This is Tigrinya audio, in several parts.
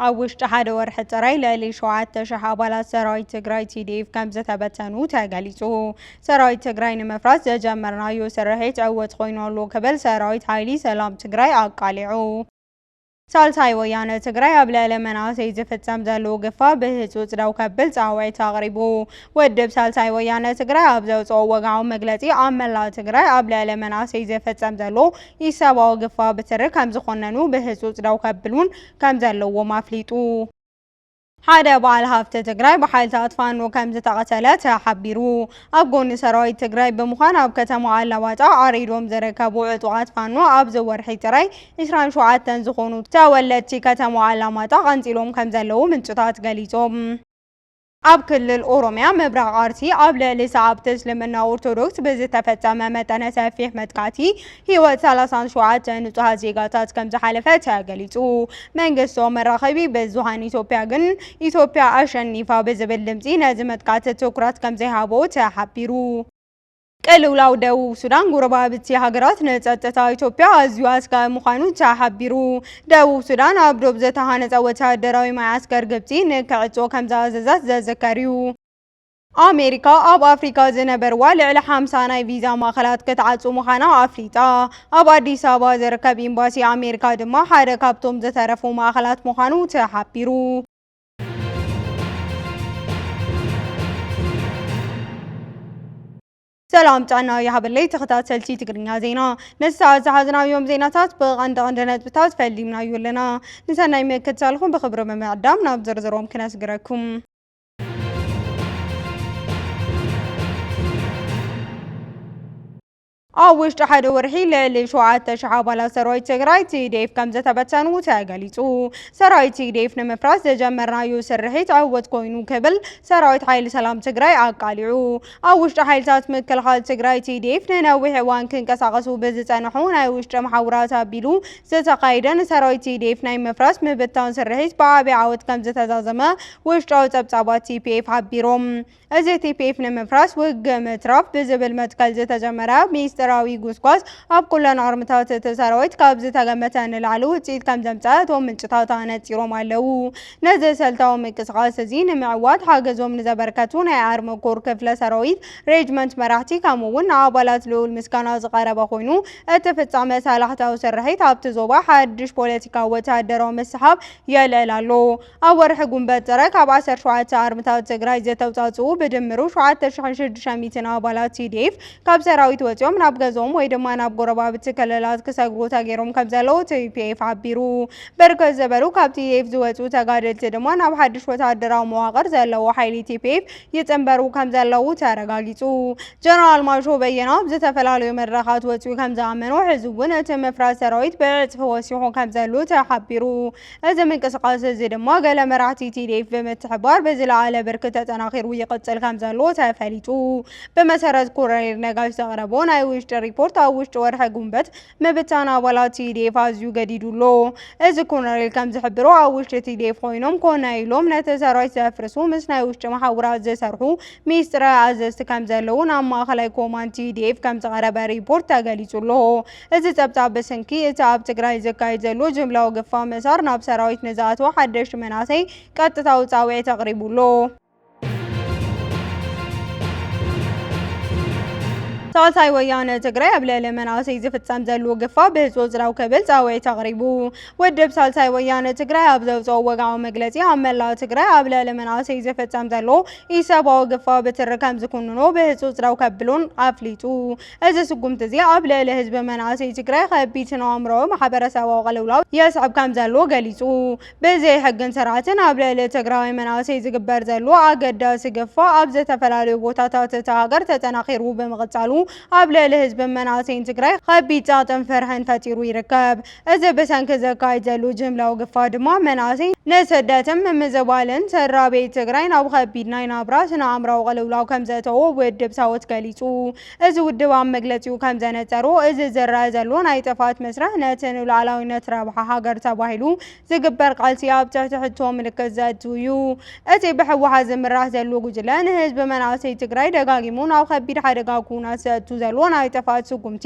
ኣብ ውሽጢ ሓደ ወርሒ ጥራይ ልዕሊ 7,000 ኣባላት ሰራዊት ትግራይ ቲዲኤፍ ከም ዝተበተኑ ተገሊጹ። ሰራዊት ትግራይ ንምፍራስ ዘጀመርናዮ ስርሒት ዕውት ኮይኑ ኣሎ ክብል ሰራዊት ሓይሊ ሰላም ትግራይ ኣቃሊዑ። ሳልሳይ ወያነ ትግራይ ኣብ ልዕሊ መናእሰይ ዝፍፀም ዘሎ ግፋ ብህፁፅ ደው ከብል ፃውዒት ኣቕሪቡ። ውድብ ሳልሳይ ወያነ ትግራይ ኣብ ዘውፅኦ ወግዓዊ መግለፂ ኣብ መላእ ትግራይ ኣብ ልዕሊ መናእሰይ ዝፍፀም ዘሎ ኢሰብኣዊ ግፋ ብትሪ ከምዝኾነኑ ብህፁፅ ደው ከብሉን ከምዘለዎም ኣፍሊጡ። ሓደ በዓል ሃፍቲ ትግራይ ብሓይልታት ፋኖ ከምዝተቐተለ ተሓቢሩ። ኣብ ጎኒ ሰራዊት ትግራይ ብምዃን ኣብ ከተማ ኣላማጣ ዓሪዶም ዝርከቡ ዕጡቓት ፋኖ ኣብዚ ወርሒ ጥራይ ዕስራን ሸውዓተን ዝኾኑ ተወለድቲ ከተማ ኣላማጣ ቀንጺሎም ከምዘለዉ ምንጭታት ገሊጾም። ኣብ ክልል ኦሮሚያ ምብራቕ ኣርሲ ኣብ ልዕሊ ሰዓብቲ እስልምና ኦርቶዶክስ ብዝተፈጸመ መጠነ ሰፊሕ መጥቃዕቲ ህይወት ሰላሳን ሸውዓተ ንጹሃት ዜጋታት ከምዝሓለፈ ተገሊጹ። መንግስታዊ መራኸቢ ብዙሃን ኢትዮጵያ ግን ኢትዮጵያ ኣሸኒፋ ብዝብል ድምጺ ነዚ መጥቃዕቲ ትኩረት ከምዘይሃቦ ተሓቢሩ። ቅልውላው ደቡብ ሱዳን ጎረባብቲ ሃገራት ንጸጥታ ኢትዮጵያ ኣዝዩ ኣስጋኢ ምዃኑ ተሓቢሩ። ደቡብ ሱዳን ኣብ ዶብ ዝተሃነጸ ወተሃደራዊ መዓስከር ግብጺ ንክዕጾ ከምዝኣዘዘት ዝዝከር እዩ። ኣሜሪካ ኣብ ኣፍሪካ ዝነበርዋ ልዕሊ ሓምሳ ናይ ቪዛ ማእኸላት ክትዓፁ ምዃና ኣፍሊጣ። ኣብ ኣዲስ ኣበባ ዝርከብ ኤምባሲ ኣሜሪካ ድማ ሓደ ካብቶም ዝተረፉ ማእኸላት ምዃኑ ተሓቢሩ። ሰላም ጥዕና ይሃበለይ ተኸታተልቲ ትግርኛ ዜና ነዚ ሰዓት ዝሓዝናዮም ዜናታት ብቐንዲ ቐንዲ ነጥብታት ፈሊምናዮ ኣለና። ንሰናይ ምክትታልኹም ብኽብሪ ብምዕዳም ናብ ዝርዝሮም ክነስግረኩም። ኣብ ውሽጢ ሓደ ወርሒ ልዕሊ ሸውዓተ ሽሕ ኣባላት ሰራዊት ትግራይ ቲዲኤፍ ከም ዝተበተኑ ተገሊፁ። ሰራዊት ቲዲኤፍ ንምፍራስ ዘጀመርናዮ ስርሒት ዕውት ኮይኑ ክብል ሰራዊት ሓይሊ ሰላም ትግራይ ኣቃሊዑ። ኣብ ውሽጢ ሓይልታት ምክልኻል ትግራይ፣ TDF፣ ንነዊሕ እዋን ክንቀሳቐሱ ብዝፀንሑ ናይ ውሽጢ መሓውራት ኣቢሉ ዝተኻየደ ንሰራዊት TDF ናይ ምፍራስ ምብታን ስርሒት ብዓብይ ዓወት ከምዝተዛዘመ ውሽጣዊ ፀብፃባት TPF ሓቢሮም። እዚ TPF ንምፍራስ ውግእ ምትራፍ ብዝብል መትከል ዝተጀመረ ሚስጢራዊ ጉስጓስ ኣብ ኩለን ኣርምታት እቲ ሰራዊት ካብ ዝተገመተ ንላዕሊ ውፅኢት ከምዘምፀኣ እቶም ምንጭታት ኣነፂሮም ኣለው። ነዚ ሰልታዊ ምቅስቓስ እዚ ንምዕዋት ሓገዞም ንዘበርከቱ ናይ ኣርሚ ኮር ክፍለ ሰራዊት፣ ሬጅመንት መራሕቲ ከምኡ እውን ንኣባላት ልኡል ምስጋና ዝቐረበ ኮይኑ እቲ ፍፃመ ሳላሕታዊ ስርሒት ኣብቲ ዞባ ሓድሽ ፖለቲካዊ ወተሃደራዊ ምስሕሓብ የልዕል ኣሎ። ኣብ ወርሒ ጉንበት ጥረ ካብ ዓሰርተ ሸውዓተ ኣርምታት ትግራይ ዝተውፃእፅኡ ብድምሩ ሸውዓተ ሽሕን ሽዱሽተ ሚእትን ኣባላት tdf ካብ ሰራዊት ወፂኦም ናብ ገዝኦም ወይ ድማ ናብ ጎረባብቲ ክልላት ክሰግሩ ተገይሮም ከምዘለዉ tpf ሓቢሩ። ብርክት ዝበሉ ካብ ቲዲኤፍ ዝወፅኡ ተጋደልቲ ድማ ናብ ሓድሽ ወታደራዊ መዋቕር ዘለዎ ሓይሊ ቲፒኤፍ ይፅምበሩ ከምዘለዉ ተረጋጊፁ። ጀነራል ማሾ በየነ ኣብ ዝተፈላለዩ መድረኻት ወፂኡ ከምዝኣመኖ ሕዚ እውን እቲ ምፍራስ ሰራዊት ብዕፅፊ ወሲኹ ከምዘሉ ተሓቢሩ። እዚ ምንቅስቓስ እዚ ድማ ገለ መራሕቲ ቲዲኤፍ ብምትሕብባር ብዝለዓለ ብርኪ ተጠናኺሩ ይቕፅል ከምዘሎ ተፈሊጡ። ብመሰረት ኮረኔል ነጋሽ ዘቕረቦ ናይ ውሽጢ ሪፖርት ኣብ ውሽጢ ወርሒ ጉንበት ምብታን ኣባላት ቲዲኤፍ ኣዝዩ ገዲዱ ኣሎ። እዚ ኮነሬል ከም ዝሕብሮ ኣብ ውሽጢ ቲዲኤፍ ኮይኖም ኮነ ኢሎም ነቲ ሰራዊት ዘፍርሱ ምስ ናይ ውሽጢ መሓውራት ዝሰርሑ ሚስጥረ ኣዘዝቲ ከም ዘለዉ ናብ ማእኸላይ ኮማንድ ቲዲኤፍ ከም ዝቐረበ ሪፖርት ተገሊጹ ኣሎ። እዚ ጸብጻብ ብስንኪ እቲ ኣብ ትግራይ ዝካየድ ዘሎ ጅምላዊ ግፋ ምእሳር ናብ ሰራዊት ንዝኣተወ ሓደሽቲ መናእሰይ ቀጥታዊ ጻውዒት ኣቕሪቡ ኣሎ። ሳልሳይ ወያነ ትግራይ ኣብ ልዕሊ መናእሰይ ዝፍጸም ዘሎ ግፋ ብህጹጽ ደው ክብል ጻውዒት ኣቕሪቡ። ውድብ ሳልሳይ ወያነ ትግራይ ኣብ ዘውጽኦ ወግዓዊ መግለጺ ኣብ መላእ ትግራይ ኣብ ልዕሊ መናእሰይ ዝፍጸም ዘሎ ኢሰብኣዊ ግፋ ብትሪ ከም ዝኩንኖ ብህጹጽ ደው ከብሉን ኣፍሊጡ። እዚ ስጉምቲ እዚ ኣብ ልዕሊ ህዝቢ መናእሰይ ትግራይ ከቢድ ስነ-ኣእምሮኣዊ ማሕበረሰባዊ ቅልውላው የስዕብ ከም ዘሎ ገሊጹ። ብዘይ ሕግን ስርዓትን ኣብ ልዕሊ ትግራዋይ መናእሰይ ዝግበር ዘሎ ኣገዳሲ ግፋ ኣብ ዝተፈላለዩ ቦታታት እታ ሃገር ተጠናኺሩ ብምቕፃሉ ኣብ ልዕሊ ህዝብን መናእሰይን ትግራይ ኸቢድ ፀቕጥን ፍርሕን ፈጢሩ ይርከብ። እዚ ብሰንኪ ዝካየድ ዘሎ ጅምላዊ ግፋ ድማ መናእሰይ ንስደትን ምምዝባልን ስድራቤት ትግራይ ናብ ኸቢድ ናይ ናብራ ስነ ኣእምራዊ ቅልውላው ከምዘእተዎ ውድብ ሳወት ገሊፁ። እዚ ውድብ ኣብ መግለጺኡ ከም ዘነጸሮ፣ እዚ ዝረኣ ዘሎ ናይ ጥፍኣት መስርሕ ነቲ ንሉኣላዊነት ረብሓ ሃገር ተባሂሉ ዝግበር ቃልሲ ኣብ ትሕቲ ሕቶ ምልክት ዘእቱ እዩ። እቲ ብህወሓት ዝምራሕ ዘሎ ጉጅለ ንህዝቢ መናእሰይ ትግራይ ደጋጊሙ ናብ ከቢድ ሓደጋ ኩናት ዘእቱ ዘሎ ናይ ጥፍኣት ስጉምቲ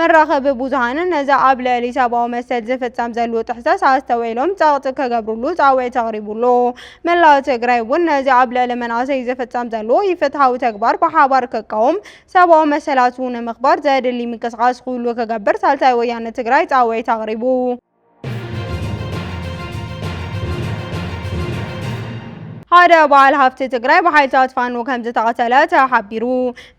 መራኸቢ ብዙሃን ነዚ ኣብ ልዕሊ ሰብኣዊ መሰል ዝፍጸም ዘሉ ጥሕሰስ ኣስተውዒሎም ጸቕጢ ክገብሩሉ ጻውዒት ኣቕሪቡ ኣሎ። መላእ ትግራይ እውን ነዚ ኣብ ልዕሊ መናእሰይ ዝፍጸም ዘሉ ኢፍትሓዊ ተግባር ብሓባር ክቃወም፣ ሰብኣዊ መሰላቱ ንምኽባር ዘድሊ ምንቅስቓስ ኩሉ ክገብር ሳልሳይ ወያነ ትግራይ ጻውዒት ኣቕሪቡ። ሓደ በዓል ሃፍቲ ትግራይ ብሓይልታት ፋኖ ከም ዝተቐተለ ተሓቢሩ።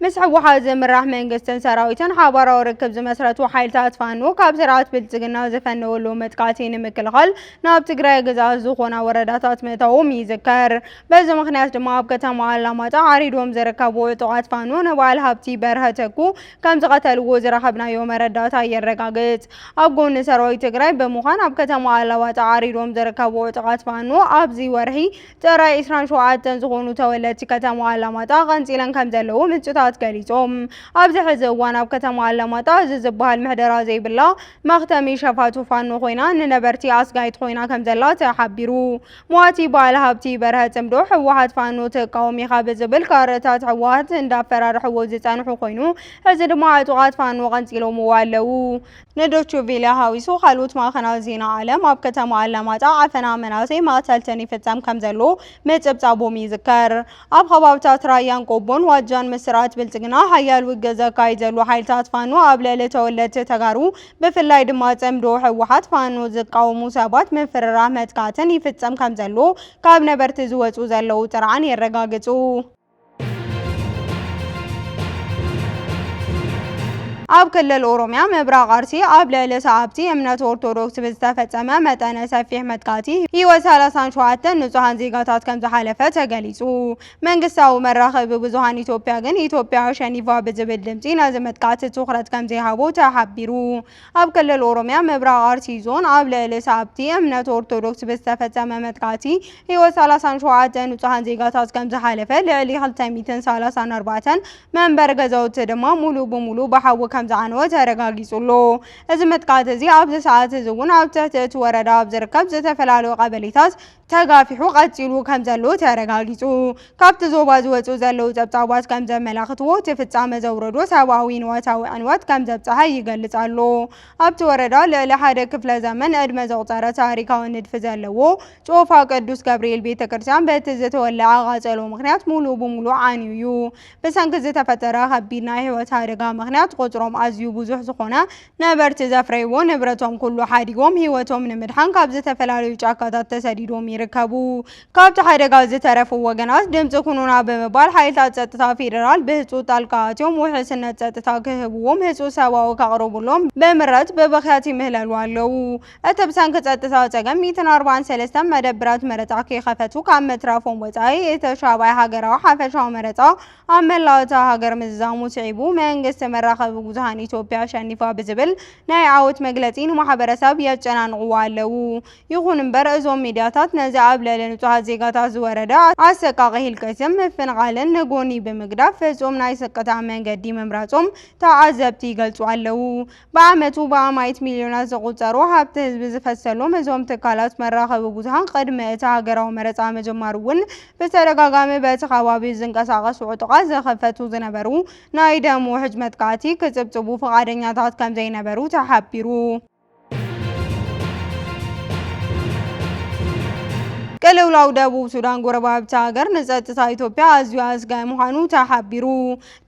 ምስ ህወሓት ዝምራሕ መንግስትን ሰራዊትን ሓባራዊ ርክብ ዝመስረቱ ሓይልታት ፋኖ ካብ ስርዓት ብልጽግና ዝፈነወሉ መጥቃዕቲ ንምክልኻል ናብ ትግራይ ግዛት ዝኾና ወረዳታት ምእታዎም ይዝከር። በዚ ምክንያት ድማ ኣብ ከተማ ኣላማጣ ዓሪዶም ዝርከቡ ዕጡቓት ፋኖ ንበዓል ሃብቲ በርሀ ተኩ ከም ዝቐተልዎ ዝረኸብናዮ መረዳእታ የረጋግፅ። ኣብ ጎኒ ሰራዊት ትግራይ ብምዃን ኣብ ከተማ ኣላባጣ ዓሪዶም ዝርከቡ ዕጡቓት ፋኖ ኣብዚ ወርሒ ጥራይ ዕስራን ሸውዓተን ዝኾኑ ተወለድቲ ከተማ ኣላማጣ ቀንፂለን ከም ዘለዉ ምንጭታት ገሊፆም። ኣብዚ ሕዚ እዋን ኣብ ከተማ ኣላማጣ እዚ ዝበሃል ምሕደራ ዘይብላ መኽተሚ ሸፋቱ ፋኖ ኮይና ንነበርቲ ኣስጋኢት ኮይና ከም ዘላ ተሓቢሩ። ሟቲ ባዓል ሃብቲ በርሀ ፅምዶ ህወሓት ፋኖ ትቃወም ኢኻ ብዝብል ካርድታት ህወሓት እንዳፈራርሕዎ ዝፀንሑ ኮይኑ ሕዚ ድማ ዕጡቓት ፋኖ ቀንፂሎምዎ ኣለው። ንዶቹ ቪለ ሃዊሱ ካልኦት ማዕኸናት ዜና ዓለም ኣብ ከተማ ኣላማጣ ዓፈና መናእሰይ መቐተልትን ይፍፀም ከምዘሎ ምፅብፃቦም ይዝከር። ኣብ ኸባብታት ራያን ቆቦን ዋጃን ምስ ስርዓት ብልፅግና ሓያል ውግእ ዘካይድ ዘሎ ሓይልታት ፋኖ ኣብ ልዕሊ ተወለድቲ ተጋሩ ብፍላይ ድማ ፅምዶ ህወሓት ፋኖ ዝቃወሙ ሰባት ምፍርራህ መጥቃዕትን ይፍፀም ከምዘሎ ካብ ነበርቲ ዝወፁ ዘለዉ ጥርዓን የረጋግፁ። ኣብ ክልል ኦሮሚያ ምብራቕ ኣርሲ ኣብ ልዕሊ ሰዓብቲ እምነት ኦርቶዶክስ ብዝተፈፀመ መጠነ ሰፊሕ መጥቃዕቲ ህይወት ሰላሳን ሸውዓተን ንፁሃን ዜጋታት ከምዝሓለፈ ተገሊፁ። መንግስታዊ መራኸቢ ብዙሃን ኢትዮጵያ ግን ኢትዮጵያ ኣሸኒፋ ብዝብል ድምጺ ነዚ መጥቃዕቲ ትኹረት ከምዘይሃቦ ተሓቢሩ። ኣብ ክልል ኦሮሚያ ምብራቕ ኣርሲ ዞን ኣብ ልዕሊ ሰዓብቲ እምነት ኦርቶዶክስ ብዝተፈጸመ መጥቃዕቲ ህይወት ሰላሳን ሸውዓተ ንጹሃን ዜጋታት ከምዝሓለፈ ልዕሊ ክልተ ሚእትን ሰላሳን ኣርባዕተን መንበሪ ገዛውቲ ድማ ሙሉእ ብሙሉእ ብሓዊ ከምዝዓነወ ተረጋጊጹ ኣሎ። እዚ መጥቃዕቲ እዚ ኣብዚ ሰዓት እዚ እውን ኣብ ትሕቲ እቲ ወረዳ ኣብ ዝርከብ ዝተፈላለዩ ቀበሌታት ተጋፊሑ ቀፂሉ ከምዘሎ ተረጋጊፁ። ካብቲ ዞባ ዝወፅኡ ዘለዉ ፀብፃባት ከምዘመላኽትዎ እቲ ፍፃመ ዘውረዶ ሰብኣዊ ንዋታዊ ዕንወት ከምዘብፀሐ ይገልፅ ኣሎ። ኣብቲ ወረዳ ልዕሊ ሓደ ክፍለ ዘመን ዕድመ ዘቑፀረ ታሪካዊ ንድፊ ዘለዎ ጮፋ ቅዱስ ገብርኤል ቤተክርስትያን በቲ ዝተወለዐ ቓፀሎ ምኽንያት ሙሉእ ብሙሉእ ዓንዩ ዩ። ብሰንኪ ዝተፈጠረ ከቢድ ናይ ህይወት ኣደጋ ምኽንያት ቑፅሮም ኣዝዩ ብዙሕ ዝኾነ ነበርቲ ዘፍረይዎ ንብረቶም ኩሉ ሓዲጎም ህይወቶም ንምድሓን ካብ ዝተፈላለዩ ጫካታት ተሰዲዶም ይርከቡ። ካብቲ ሓደጋ ዝተረፉ ወገናት ድምፂ ኩኑና ብምባል ሓይልታት ፀጥታ ፌደራል ብህፁፅ ጣልቃ ኣትዮም ውሕስነት ፀጥታ ክህብዎም ህፁፅ ሰብኣዊ ከቕርቡሎም ብምረት ብብኽያት ይምህለሉ ኣለው። እቲ ብሰንኪ ፀጥታ ፀገም ሚእትን ኣርባዓን ሰለስተን መደብራት መረፃ ከይኸፈቱ ካብ ምትራፎም ወፃኢ እቲ ሻብዓይ ሃገራዊ ሓፈሻዊ መረፃ ኣብ መላእ እታ ሃገር ምዝዛሙ ስዒቡ መንግስቲ መራኸቢ ብዙሃን ኢትዮጵያ ኣሸኒፋ ብዝብል ናይ ዓወት መግለጺ ንማሕበረሰብ የጨናንቕዎ ኣለዉ። ይኹን እምበር እዞም ሚድያታት ነዚ ኣብ ልዕሊ ንጹሃት ዜጋታት ዝወረደ ኣሰቃቒ ህልቂትን ምፍንቓልን ንጎኒ ብምግዳፍ ፍጹም ናይ ስቅታ መንገዲ ምምራጾም ተዓዘብቲ ይገልጹ ኣለዉ። ብዓመቱ ብኣማኢት ሚልዮናት ዝቑጸሩ ሃብቲ ህዝቢ ዝፈሰሎም እዞም ትካላት መራኸቢ ብዙሃን ቅድሚ እቲ ሃገራዊ መረጻ ምጅማሩ እውን ብተደጋጋሚ በቲ ከባቢ ዝንቀሳቐሱ ዕጡቓት ዝኽፈቱ ዝነበሩ ናይ ደም ውሕጅ መጥቃዕቲ ክጽብጽቡ ፍቓደኛታት ከምዘይነበሩ ተሓቢሩ። ቅልውላው ደቡብ ሱዳን ጎረባብቲ ሃገር ንጸጥታ ኢትዮጵያ ኣዝዩ ኣስጋኢ ምዃኑ ተሓቢሩ።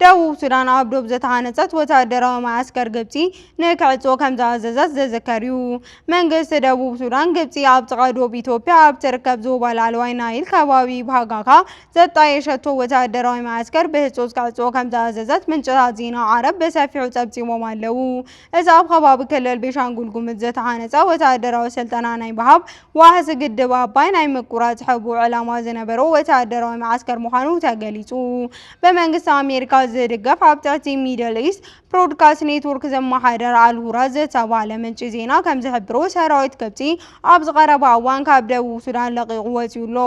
ደቡብ ሱዳን ኣብ ዶብ ዝተሃነጸት ወተሃደራዊ መዓስከር ግብጺ ንክዕጾ ከምዝኣዘዘት ዝዝከር'ዩ። መንግስቲ ደቡብ ሱዳን፣ ግብጺ ኣብ ጥቓ ዶብ ኢትዮጵያ ኣብ ትርከብ ዞባ ላዕለዋይ ናይል ከባቢ ባሃጋካ ዘጣየሸቶ ወተሃደራዊ መዓስከር ብህጹጽ ክዕጾ ከምዝኣዘዘት ምንጭታት ዜና ዓረብ ብሰፊሑ ጸብጺቦም ኣለዉ። እዚ ኣብ ኸባቢ ክልል ቤሻንጉል ጉምዝ ዝተሃነፀ ወታደራዊ ስልጠና ናይ ምሃብ፣ ዋሕዚ ግድብ ኣባይ ናይ ምቁራፅ ሕቡእ ዕላማ ዝነበሮ ወታደራዊ መዓስከር ምዃኑ ተገሊፁ። ብመንግስቲ ኣሜሪካ ዝድገፍ ኣብ ትሕቲ ሚድል ኢስት ብሮድካስት ኔትዎርክ ዝመሓደር ኣልሁራ ዝተብሃለ ምንጪ ዜና ከምዝሕብሮ ሰራዊት ግብፂ ኣብዚ ቀረባ እዋን ካብ ደቡብ ሱዳን ለቒቑ ወፂኡ ኣሎ።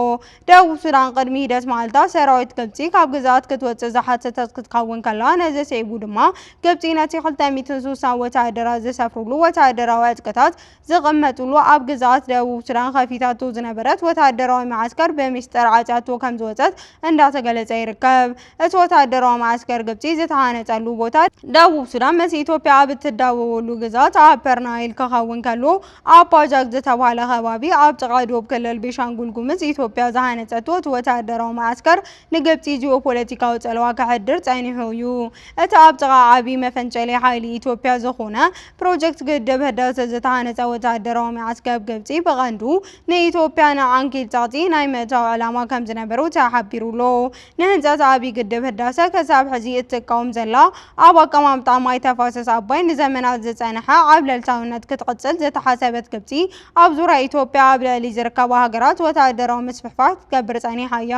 ደቡብ ሱዳን ቅድሚ ሂደት መዓልታት ሰራዊት ግብጺ ካብ ግዝኣት ክትወጽእ ዝሓተተት ክትከውን ከላ፣ ነዚ ስዒቡ ድማ ግብጺ ነቲ ክልተ ሚእትን ስሳን ወተሃደራት ዝሰፍርሉ ወተሃደራዊ ዕጥቅታት ዝቕመጥሉ ኣብ ግዝኣት ደቡብ ሱዳን ከፊታቶ ዝነበረት ወተሃደራዊ መዓስከር ብሚስጥር ዓጽያቶ ከምዝወጸት እንዳተገለጸ ይርከብ። እቲ ወተሃደራዊ መዓስከር ግብጺ ዝተሃነጸሉ ቦታ ደቡብ ሱዳን ምስ ኢትዮጵያ ኣብ እትዳወበሉ ግዝኣት ኣፐር ናይል ክኸውን ከሎ፣ ኣባጃግ ዝተብሃለ ከባቢ ኣብ ጥቓ ዶብ ክልል ቤሻንጉል ጉምዝ ኢትዮጵያ ዝሃነፀቶ እቲ ወተሃደራዊ መዓስከር ንግብፂ ጂኦፖለቲካዊ ፀለዋ ከሕድር ፀኒሑ እዩ። እቲ ኣብ ጥቓ ዓብዪ መፈንጨሊ ሓይሊ ኢትዮጵያ ዝኾነ ፕሮጀክት ግድብ ህዳሰ ዝተሃነፀ ወተሃደራዊ መዓስከብ ግብፂ ብቐንዱ ንኢትዮጵያ ንዓንኬል ፀቕጢ ናይ ምእታው ዕላማ ከምዝነበሮ ተሓቢሩ'ሎ። ንህንፀት ኣብይ ግድብ ህዳሰ ክሳብ ሕዚ እትቃወም ዘላ ኣብ ኣቀማምጣ ማይ ተፋሰስ ኣባይ ንዘመናት ዝፀነሐ ዓብለልታዊነት ክትቕፅል ዝተሓሰበት ግብፂ ኣብ ዙርያ ኢትዮጵያ ኣብ ልዕሊ ዝርከባ ሃገራት ወታደራዊ ምስፍሕፋሕ ክትገብር ፀኒሓ እያ።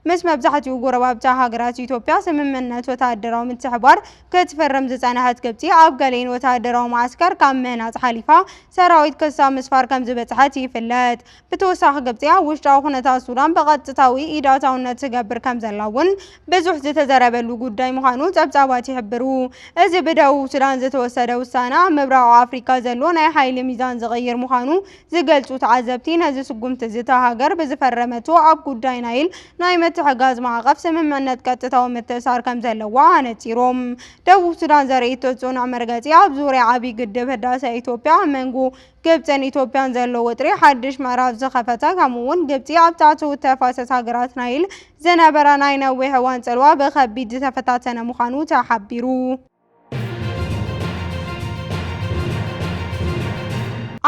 ምስ መብዛሕትኡ ጎረባብቲ ሃገራት ኢትዮጵያ ስምምዕነት ወታደራዊ ምትሕብባር ክትፍርም ዝፀነሐት ግብፂ ኣብ ገሊኤን ወታደራዊ መዓስከር ካብ ምህናፅ ሓሊፋ ሰራዊት ክሳብ ምስፋር ከምዝበፅሐት ይፍለጥ። ብተወሳኺ ግብፂ ኣብ ውሽጣዊ ኩነታት ሱዳን ብቐጥታዊ ኢድ ኣእታውነት ትገብር ከምዘላ እውን ብዙሕ ዝተዘረበሉ ጉዳይ ምዃኑ ፀብፃባት ይሕብሩ። እዚ ብደቡብ ሱዳን ዝተወሰደ ውሳነ ኣብ ምብራቕ ኣፍሪካ ዘሎ ናይ ሓይሊ ሚዛን ዝቕይር ምዃኑ ዝገልፁ ተዓዘብቲ ነዚ ስጉምቲ እዚ እታ ሃገር ብዝፈረመቶ ኣብ ጉዳይ ናይል ናይ ምትሕጋዝ ማዕቐፍ ስምምዕነት ቀጥታዊ ምትእሳር ከምዘለዋ ኣነፂሮም። ደቡብ ሱዳን ዘርእይቶ ፅኑዕ መርገፂ ኣብ ዙርያ ዓብዪ ግድብ ህዳሰ ኢትዮጵያ ኣብ መንጎ ግብጽን ኢትዮጵያን ዘሎ ወጥሪ ሓድሽ ምዕራፍ ዝኸፈተ ከምኡ'ውን ግብጺ ኣብ ታሕተዎት ተፋሰስ ሃገራት ናይል ዝነበራ ናይ ነዊሕ እዋን ጽልዋ ብኸቢድ ዝተፈታተነ ምዃኑ ተሓቢሩ።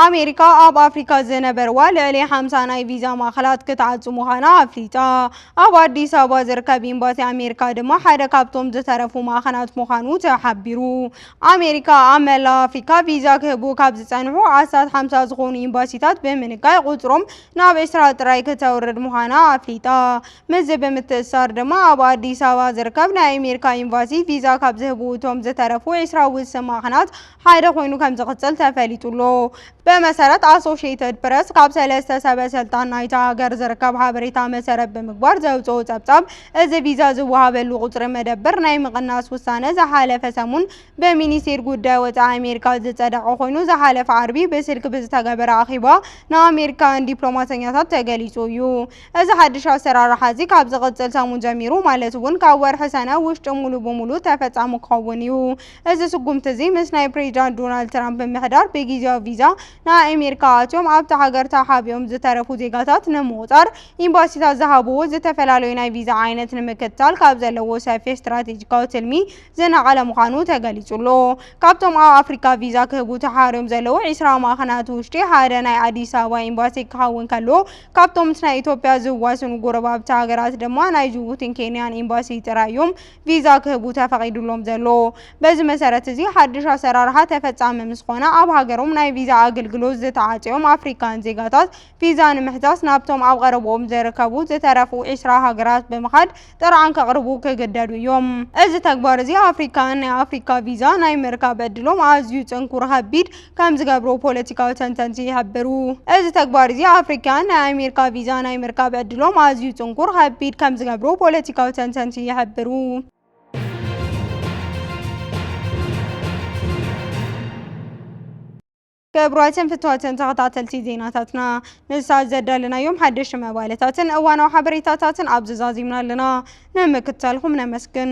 ኣሜሪካ ኣብ ኣፍሪካ ዝነበርዋ ልዕሊ ሓምሳ ናይ ቪዛ ማእኸላት ክትዓፁ ምዃና ኣፍሊጣ። ኣብ ኣዲስ ኣበባ ዝርከብ ኤምባሲ ኣሜሪካ ድማ ሓደ ካብቶም ዝተረፉ ማእኸናት ምዃኑ ተሓቢሩ። ኣሜሪካ ኣብ መላእ ኣፍሪካ ቪዛ ክህቡ ካብ ዝፀንሑ ኣስታት ሓምሳ ዝኾኑ ኤምባሲታት ብምንካይ ቁፅሮም ናብ ዕስራ ጥራይ ክተውርድ ምዃና ኣፍሊጣ። ምስዚ ብምትእስሳር ድማ ኣብ ኣዲስ ኣበባ ዝርከብ ናይ ኣሜሪካ ኤምባሲ ቪዛ ካብ ዝህቡ እቶም ዝተረፉ ዕስራ ውስን ማዕኸናት ሓደ ኮይኑ ከምዝቕፅል ተፈሊጡ'ሎ። ብመሰረት ኣሶሽየትድ ፕረስ ካብ ሰለስተ ሰበ ሰልጣን ናይታ ሃገር ዝርከብ ሓበሬታ መሰረት ብምግባር ዘውጽኦ ጸብጻብ፣ እዚ ቪዛ ዝወሃበሉ ቁጽሪ መደብር ናይ ምቕናስ ውሳነ ዝሓለፈ ሰሙን ብሚኒስቴር ጉዳይ ወጻኢ ኣሜሪካ ዝጸደቐ ኮይኑ ዝሓለፈ ዓርቢ ብስልኪ ብዝተገበረ ኣኼባ ንኣሜሪካውያን ዲፕሎማሰኛታት ተገሊጹ እዩ። እዚ ሓድሽ ኣሰራርሓ እዚ ካብ ዝቕጽል ሰሙን ጀሚሩ ማለት እውን ካብ ወርሒ ሰነ ውሽጢ ሙሉእ ብሙሉእ ተፈጻሚ ክኸውን እዩ። እዚ ስጉምቲ እዚ ምስ ናይ ፕሬዚዳንት ዶናልድ ትራምፕ ምምሕዳር ብጊዚያዊ ቪዛ ንኣኤሜሪካ ኣትዮም ኣብታ ሃገር ተሓቢኦም ዝተረፉ ዜጋታት ንምቑፃር ኢምባሲታት ዝሃብዎ ዝተፈላለዩ ናይ ቪዛ ዓይነት ንምክትታል ካብ ዘለዎ ሰፊሕ ስትራቴጂካዊ ትልሚ ዝነቐለ ምዃኑ ተገሊፁ'ሎ። ካብቶም ኣብ ኣፍሪካ ቪዛ ክህቡ ተሓርዮም ዘለዉ ዕስራ ማዕኸናት ውሽጢ ሓደ ናይ ኣዲስ ኣበባ ኢምባሲ ክኸውን ከሎ ካብቶም ምስ ናይ ኢትዮጵያ ዝዋስኑ ጎረባብቲ ሃገራት ድማ ናይ ጅቡቲን ኬንያን ኢምባሲ ጥራይ እዮም ቪዛ ክህቡ ተፈቒዱሎም ዘሎ። በዚ መሰረት እዚ ሓድሽ ኣሰራርሓ ተፈፃሚ ምስ ኾነ ኣብ ሃገሮም ናይ ቪዛ ኣገልግሎት ዝተዓፅዮም ኣፍሪካውያን ዜጋታት ቪዛ ንምሕታት ናብቶም ኣብ ቐረብኦም ዝርከቡ ዝተረፉ ዒስራ ሃገራት ብምኻድ ጥርዓን ከቕርቡ ክግደዱ እዮም። እዚ ተግባር እዚ ኣፍሪካውያን ናይ ኣፍሪካ ቪዛ ናይ ምርካብ ዕድሎም ኣዝዩ ፅንኩር፣ ኸቢድ፣ ከም ዝገብሩ ፖለቲካዊ ተንተንቲ ይሕብሩ። እዚ ተግባር እዚ ኣፍሪካያን ናይ ኣሜሪካ ቪዛ ናይ ምርካብ ዕድሎም ኣዝዩ ጽንኩር፣ ከቢድ፣ ከም ዝገብሩ ፖለቲካዊ ተንተንቲ ይሕብሩ። ክቡራትን ፍትዋትን ተኸታተልቲ ዜናታትና ንሳት ዘዳለናዮም ሓደሽቲ መባለታትን እዋናዊ ሓበሬታታትን ኣብዚ ዛዚምና ኣለና። ንምክትታልኩም ነመስግን።